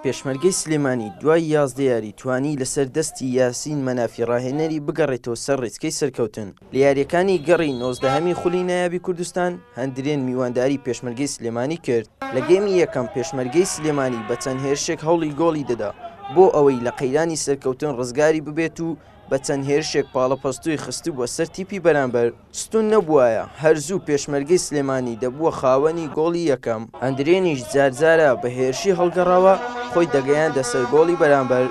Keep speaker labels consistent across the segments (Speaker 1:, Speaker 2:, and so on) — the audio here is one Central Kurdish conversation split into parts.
Speaker 1: پێشمەرگەی سلێمانی دوای یازدە یاری توانی لەسەر دەستی یاسین مەنافی راهێنەری بگەڕێتەوە سەر رێچکەی سەرکەوتن لە یارییەکانی گەڕی نۆزدەهەمی خولی نایابی کوردستان، هەندرێن میوانداری پێشمەرگەی سلێمانی کرد، لە گێمی یەکەم پێشمەرگەی سلێمانی بە چەند هێرشێک هەوڵی گۆڵی دەدا بۆ ئەوەی لە قەیرانی سەرکەوتن رزگاری ببێت و بە چەند هێرشێک پاڵەپەستۆی خستبووە سەر تیپی بەرامبەر، ستون نەبوایە هەر زوو پێشمەرگەی سلێمانی دەبووە خاوەنی گۆڵی یەکەم، ئەندرێنیش جار جارە بە هێرشی هەڵگەڕاوە خۆی دەگەیاندە سەر گۆڵی بەرامبەر،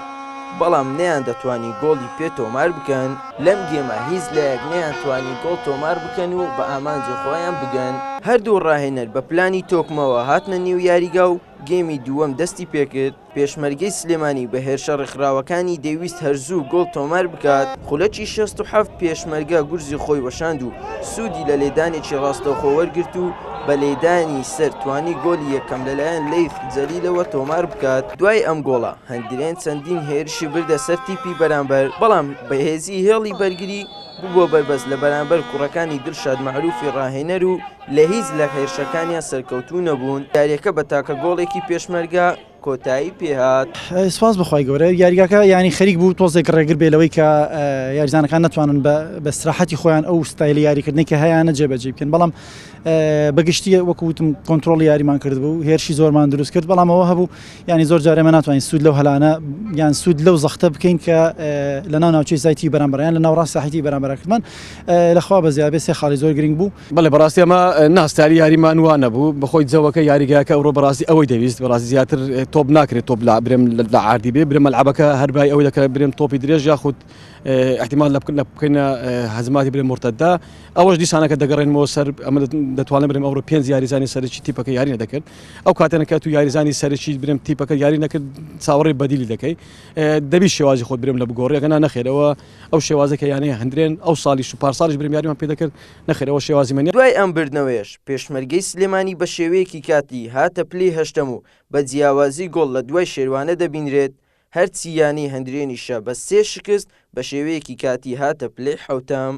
Speaker 1: بەڵام نەیاندەتوانی گۆڵی پێ تۆمار بکەن. لەم گێمە هیچ لایەک نەیانتوانی گۆڵ تۆمار بکەن و بە ئامانجی خۆیان بگەن. هەردوو راهێنەر بە پلانی تۆکمەوە هاتنە نێو یاریگا و گێمی دووەم دەستی پێکرد، پێشمەرگەی سلێمانی بە هێرشە ڕێکخراوەکانی دەیویست هەرزوو گۆڵ تۆمار بکات، خولەکی شەست و حەفت پێشمەرگە گورزی خۆی وەشاند و سوودی لە لێدانێکی ڕاستەوخۆ وەرگرت و بە لێدانی سەر توانی گۆڵی یەکەم لەلایەن لەیث جەلیلەوە تۆمار بکات. دوای ئەم گۆڵە هەندرێن چەندین هێرشی بردە سەر تیپی بەرامبەر، بەڵام بەهێزی هێڵی بەرگری ببووە بەربەست لە بەرامبەر کوڕەکانی دڵشاد مەعروفی ڕاهێنەر و، لە هیچ لە هێرشەکانیان سەرکەوتوو نەبوون، یاریەکە بە تاکە گۆڵێکی پێشمەرگە کۆتایی پێهات. سوپاس بەخوای گەورە
Speaker 2: یاریگاکە یانی خەریک بوو تۆزێک ڕێگر بێ لەوەی کە یاریزانەکان نەتوانن بە سراحەتی خۆیان ئەو ستایلی یاریکردنی کە هەیەە جێبەجی بکەن بەڵام بەگشتی وەکوتم کۆنتترۆل یاریمان کرد بوو هێرشی زۆرمان دروست کرد بەڵامەوە هەبوو ینی زۆر جارێمە ناتوانین سوود لەو هەلانە یان سوود لەو زەختە بکەین کە لە ناو ناوچەی زایتی بەرامبەریان لە ناوڕاست ساحیتی بەرامبەرکردمان لەخوا بە زیابێ سێ خاڵی زۆر گرنگ بوو بەڵێ بەڕاستی ئەمە
Speaker 3: نا ستایلی یاریمان وا نەبوو بەخۆی جەوەکە یاریگاکە ئەوڕۆ بەڕاستی ئەوەی دەویست بەڕاستی زیاتر تۆپ ناکرێت تۆپ لا برێم لە عادی بێ برێ مەلعبەکە هەربای ئەوەی دەکرێت برێم تۆپی درێژ یاخود احتیمال لە بکردنە بکەینە هەزماتی برێ مرتەدا ئەوەش دیسانەکە دەگەڕێنەوە سەر ئەمە دەتوانم برێم ئەوڕۆ پێنج یاریزانی سەرچی تیپەکە یاری نەدەکرد ئەو کاتێنەکە تو یاریزانی سەرچی برێم تیپەکە یاری نەکرد چاوەڕێ بەدیلی دەکەی دەبی شێوازی خۆت برێم لە بگۆڕێگەنا نەخێرەوە ئەو شێوازەی کە یانەیە هەندرێن ئەو سالیش و پارسالیش برمیاریمان پێ دەکرد نەخێر ئەوە شێوازی منە. دوای ئەم بردنەوەیەش
Speaker 1: پێشمەرگەی سلێمانی بە شێوەیەکی کاتی هاتە پلەی هەشتەم و بە جیاوازی گۆڵ لە دوای شێروانە دەبینرێت، هەرچی یانەی هەندرێنیشە بە سێ شکست بە شێوەیەکی کاتی هاتە پلەی حەوتەم.